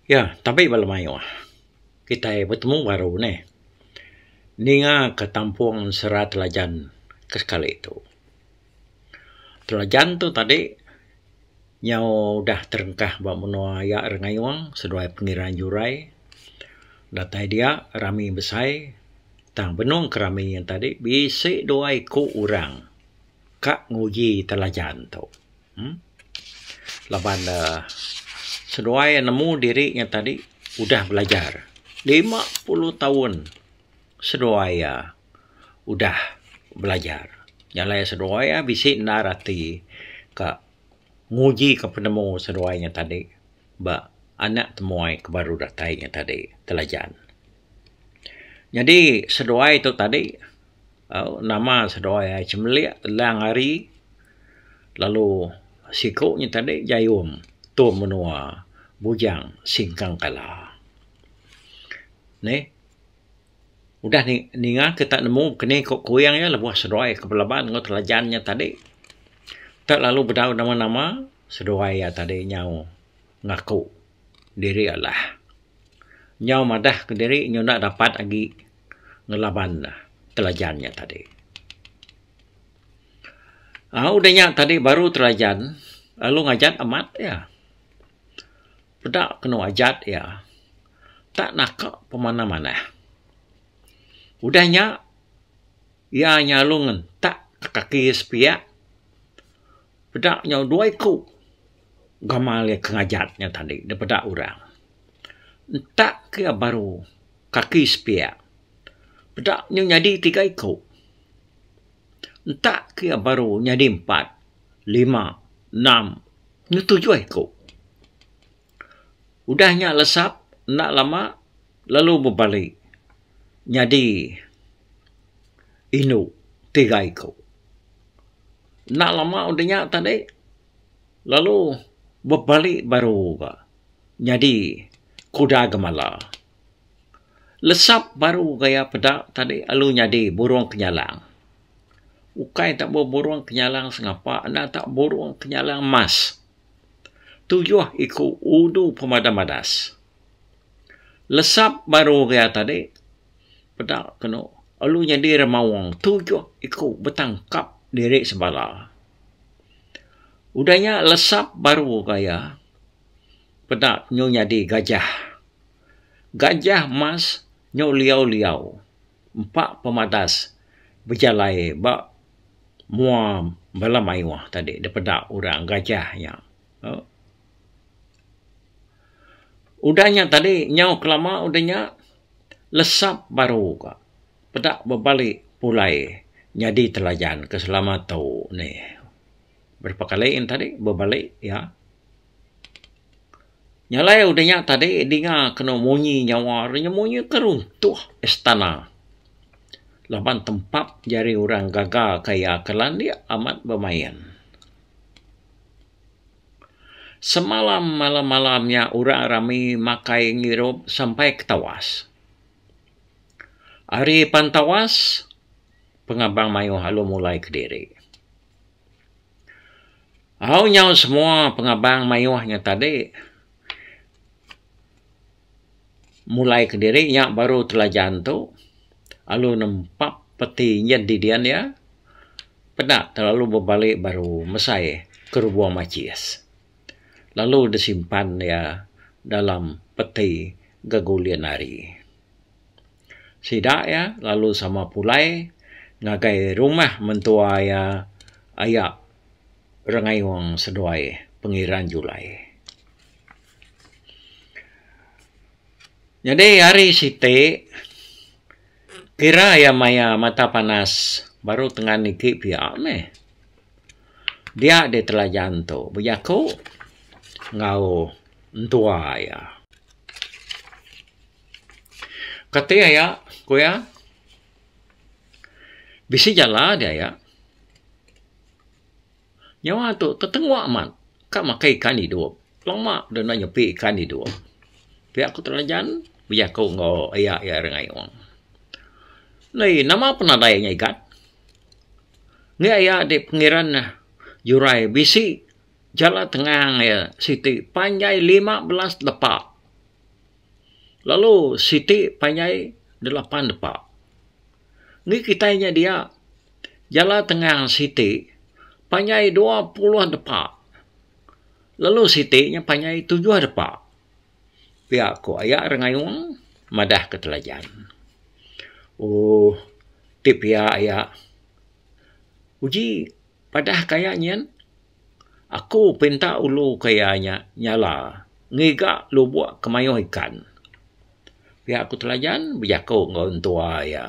Ya, tabi bala mayuh kitai betemu baru nih ninga ka tampung Sera Telajan ke sekali tu. Telajan tu tadi nyau udah terengkah ba menua iya rak ngayung seduai Pengerang Jurai. Datai dia rami besai tang benung ke rami nya tadi bisi dua iku orang ka nguji telajan tu. uhh laban ne seduai nemu diri nya tadi udah belajar lima puluh taun seduai iya udah belajar jalai seduai iya bisi endar ati ka nguji ka penemu seduai nya tadi ba anak temuai ke baru datai nya tadi Telajan. Nyadi seduai tu tadi. Au nama seduai ai Chemelik Lang Ari lalu siku nya tadi Jayum Tum Menua Bujang Singkang Kala. Neh udah ni ninga ke tak nemu keni ku Kuyang iya lebuh seduai ke Pelaban enggau Telajan nya tadi tak lalu bedau nama-nama seduai iya tadi nyau ngaku. diri alah. Nyau madah ke diri nyu enda dapat agi ngelaban ne telajan nya tadi. Au udah nya tadi baru telajan lalu ngajat amat iya. Peda kenu ajat iya tak naka pemanah-manah. Udah nya iya nyalu ngentak kaki iya sepiak Peda nyau dua iku gamal iya ke ngajat nya tadi da peda orang. Entak ke iya baru kaki sepiak. Peda nyau nyadi tiga iku. Entak ke iya baru nyadi empat, lima, enam enggau tujuh iku. Udah nya lesap enda lama lalu bebali nyadi indu tiga iku. Enda lama udah nya tadi lalu bebali baru ba nyadi kuda gemala. Lesap baru gaya peda tadi lalu nyadi burung kenyalang. Ukai tabu burung kenyalang sengapa enda ta burung kenyalang mas. tujuh iku ulu pemadam badas. Lesap baru ria tadi peda kenu alu nyadi ri maung tujuh iku betang kap diri sebala. Udah nya lesap baru ga iya peda nyu nyadi gajah. Gajah emas nyu liau-liau. empa pemadas bejalai ba mua bala mayuh tadi dipeda orang Gajah nya. Au. Udah nya tadi nyau kelama udah nya lesap baru ka peda bebali pulai nyadi telajan ke selama tu nih. Berapa kali tadi bebali iya. Nya alai udah nya tadi dinga kenu munyi nyawa re nya munyi ke runtuh istana. Laban tempap jari orang gaga ke iya ke landik amat bemain. Semalam malam-malam nya orang rami makai ngirup sampai ke tawas. Ari pan tawas pengabang mayuh alu mulai kediri. Au nyau semua pengabang mayuh nya tadi mulai kediri nya baru telajan tu lalu nempa peti nyin di dian iya peda telalu bebali baru mesai ke Ruang Machis lalu disimpan iya dalam peti gegulin ari. Sida iya lalu sama pulai ngagai rumah mentua iya aya Rengayong Seduai, Pengiran Julai. Nyadi hari siti kira iya maya mata panas baru tengan niki pia meh. Dia di Telajan tu bejaku enggau entua iya. Kati aya ku iya? Bisi jala di aya. Nyawa tu tetengwa amat. Ka makai ikan idup. Lama dulu enda nyepi ikan idup. Pia ku telajan bejaku enggau aya iya ari Ayong. Nai nama penadai nya igat? Nya aya di pengeran jurai bisi jala tengang iya siti panjai lima belas lepa. lalu siti panjai dalam pan depa. Ni kitai nya dia jala tengang siti panjai dua puluh depa lalu siti nya panjai tujuh depa pia ko aya ira ngayung madah ke telajan. Ooh ti pia aya uji padah ka aya nyin. Aku pinta ulu ke iya nya nyala ngiga lubok ke mayuh ikan. Pia ku Telajan bejaku enggau entua iya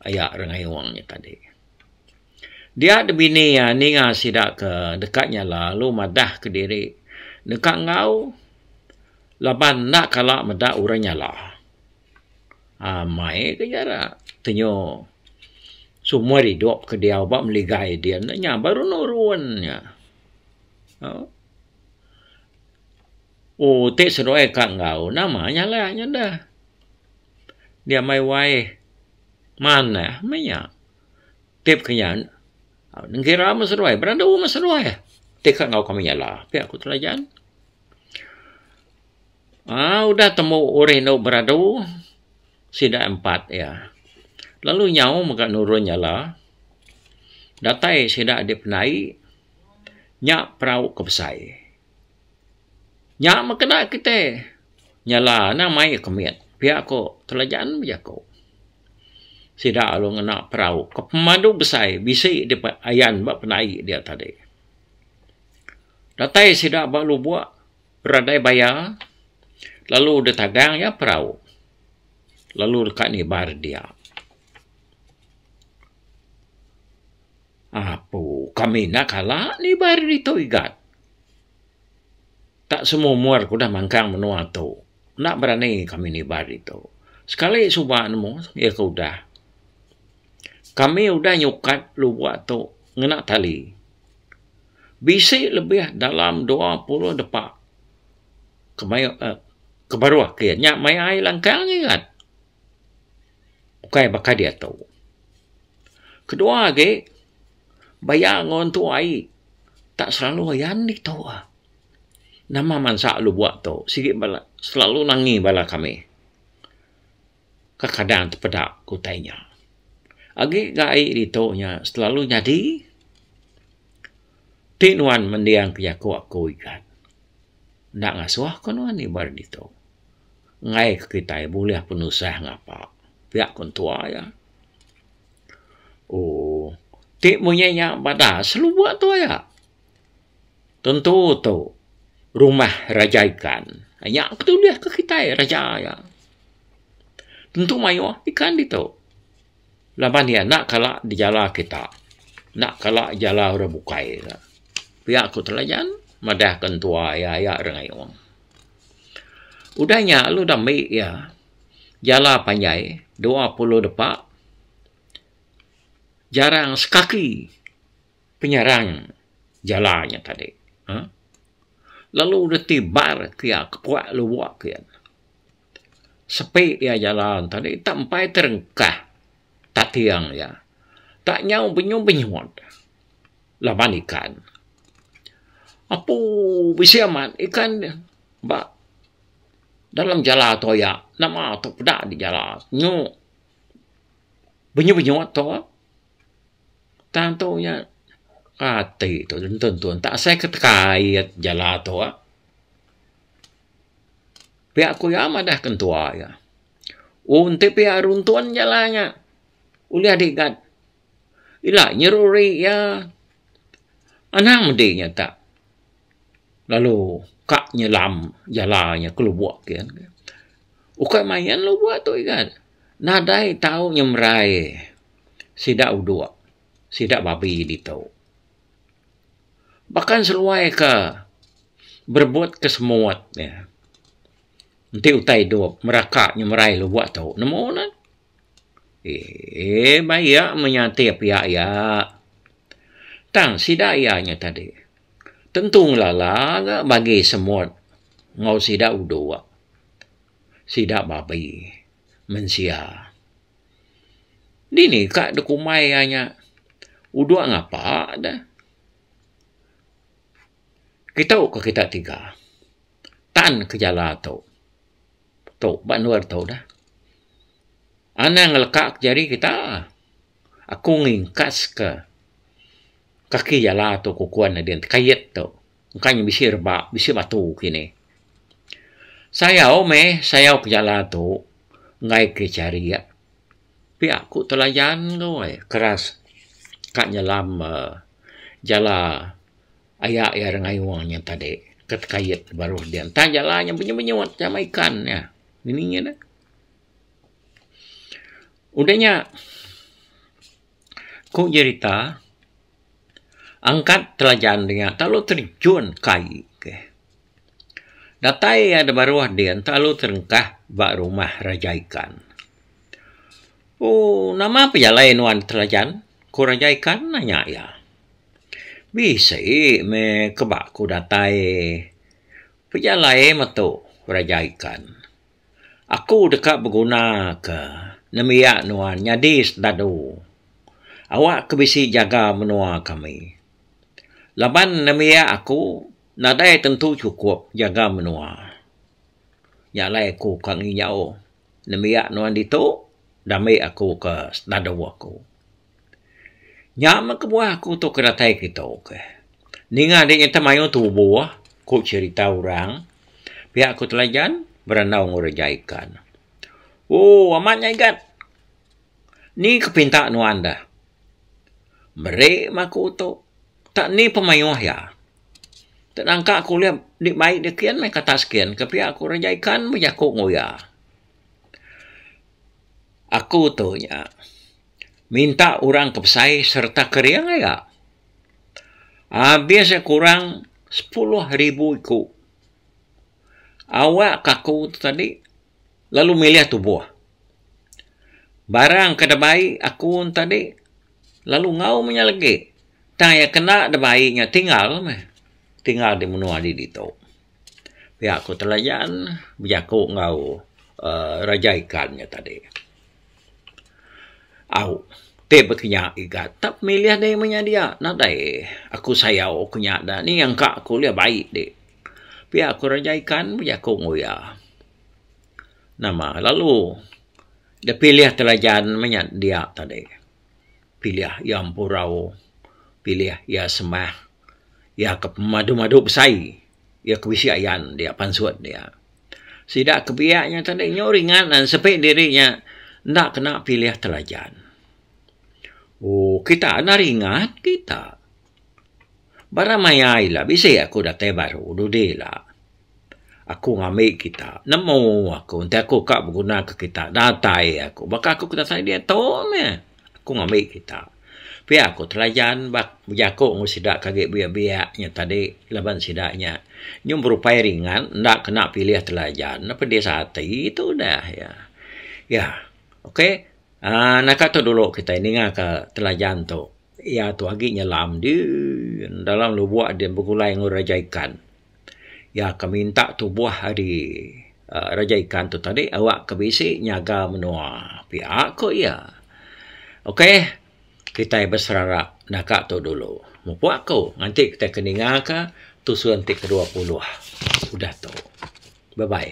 aya ri Ngayung nya tadi. Dia da bini iya ninga sida ke deka nyala lalu madah kediri deka enggau laban enda kala meda orang nyala. uhh mai ke jarak tenyo seumur idup ke diau ba meli gai din ne nya baru nurun nya uhh oh ti seduai ka enggau nama nyala nyu da dia meh wai manah meh nya ti peka nya ngira meh seduai berandu meh seduai ti ka enggau kami nyala pia ku Telajan. Aa udah tembu urih endo beradu sida empat iya lalu nyau mega nurun nyala datai sida di penai nya perau ke besai nya meh kena kitai nyala ne mai ke mit pia ko Telajaan bejaku sida lalu ngena perau ke pemadu besai bisi di ayan ba penai dia tadi datai sida ba lubok Ragai baya, lalu deh tagang iya perau, lalu deka nibar dia. Apu, kami enda kala nibar ditu igat. Tak semua umur ke udah mangkang menua tu, enda berani kami nibar ditu. Sekali suba nemu, iya ke udah. Kami udah nyukat lubok tu ngena tali. bisi lebih dalam dua puluh depa ke mayuh um ke baruh ke nya maya ai langkang ingat ukai baka diatu. Kedua agi baya nguntu ai tak selalu ayan ditu ah. Nama mansa lubok tu sigi bala selalu nangi bala kami. Kekadang tepeda ke utai nya. Agi ga ai ditu nya selalu nyadi. Ti nuan mending ke jaku aku ikan. Enda ngasuh ke nuan iban ari ditu. Enggai ke kitai bulih penusah ngapa. Pia ku entua iya. Ooh ti munyi nya bada selubuk tua iya. Tentu tu rumah raja ikan. Nya ke tulis ke kitai raja iya. Tentu mayuh ikan ditu. Laban iya enda kala dijala kita. Enda kala dijala orang bukai kita. Pia ku telajan madah ke entua iya, iya rak ngayuh. Udah nya lalu udah mbi iya jala panjai dua puluh depa jarang sekaki. Penyerang jala nya tadi uhh lalu reti bar ke iya ke puak lubok ke iya. Sepi iya jala tadi tak empai terengkah tating iya. Tak nyau benyum benyut laban ikan. Apu bisi amat ikan ba dalam jala toya nama tu peda di jala nyu benyut benyut tu. Tang tu nya ati tu nentun tun tak asai ke kait jala tu ah. Pia ku iya madah ke entua iya. Oh enti pia runtun jala nya ulih digat ila nyeruri iya anang mende nya tak lalu ka nyelam jala nya ke lubuk kian. Ukai main lubuk tu igan nadai tau nyemerai. sida udok sida babi ditu. Baka seluai ke berebut ke semut ne enti utai dok meraka nyemerai lubok tu nemu ne eee ba iya meh nyantik piak iya tang sida iya nya tadi tentu ngelala ga bagi semut enggau sida udok sida babi mensia. Dini ka dikumbai iya nya udok ngapa da kitu ka kita tiga tan kejala tu tu ba endur tu da anang leka ka jari kita aku ngingkas ka kaki jala tu ku kuan nadin kait tu. engka nya bisi rebak bisi batu kini. Sayau meh sayau ke jala tu enggai ke charia pia ku telayan tu ai keras ka nyelam um jala aya iya ira ngayuh nya tadi ke tekait baruh dia entah jala nya benyu benyu sama ikan nya ngini ngini udah nya Ku jerita, angkat telajan nya telalu terjun ke aie ke. Datai iya da baruh din telalu terengkah ba rumah Raja Ikan. Ooh nama pia alai nuan telajan? Ku Raja Ikan nanya iya. Bisi meh ke ba ku datai. Pia alai meto Raja Ikan. Aku deka begunaka nembiak nuan nyadi sdadu awak ke bisi jaga menua kami. Laban nembiak aku nadai tentu chukup jaga menua. Nya alai aku ka nginyau nembiak nuan ditu dambi aku ke sdadu aku. Nya meh kebuah aku tu ke datai keto ke. Ninga deh nyetah mayuh tubuh, ku cherita orang. Pia ku telajan berandau enggau reja ikan. Ooh amat nya igat. Ni ke pinta nuan deh? Meri meh aku tu. Tak ni peh mayuh iya. Tak nangka ku ulih dik bai deh kian meh kata sekian ke pia ku reja ikan bejaku enggau iya. Aku tu nya. minta orang ke besai sereta kering aja. Abis iya kurang sepuluh ribu iku. Awak ke aku tu tadi lalu milih tubuh. Barang ke da bai aku ne tadi lalu ngaum inya lagi tang iya kena da bai inya tinggal meh. Tinggal di menua adi ditu. pia ku Telayan bejaku enggau um Raja Ikan nya tadi. Au ti ba kinya iga tap milih dei meh nya dia nadai aku sayau ku nya da ni engka ku ulih bai di. Pia ku Raja Ikan bejaku enggau iya. Nama lalu da pilih Telayan meh nya dia tadi. Pilih iya Empurau, pilih iya Semah. iya ke pemadu madu besai iya ke bisi ayan dia pansut dia. Sida ke biak nya tadi nyu ringan nan sepi diri nya enda kena pilih telajan. Ooh kita enda ringat kita. Ba ra maya ila bisi aku datai baru dudi ila. Aku ngambi kita nemu aku enti aku ka beguna ke kita datai aku baka aku kita sai diatu meh aku ngambi kita pia aku telajan ba bejaku ngan sida ke agi biak-biak nya tadi laban sida nya nyuh berupai ringan enda kena pilih telajan ne pedis ati tu dah iya. Iya ok aaa naka tu dulu kita ninga ka telajan tu iya tu agi nyelam dii dalam lubok dii begulai enggau raja ikan. Iya ke minta tubuh ari uhh Raja Ikan tu tadi awak ke bisi nyaga menua pia ku iya. Okay, kitai beserarap naga tu dulu. Mepu aku nganti kitai ke ninga ka tusun ti kedua puluh udah tu. Bye bye.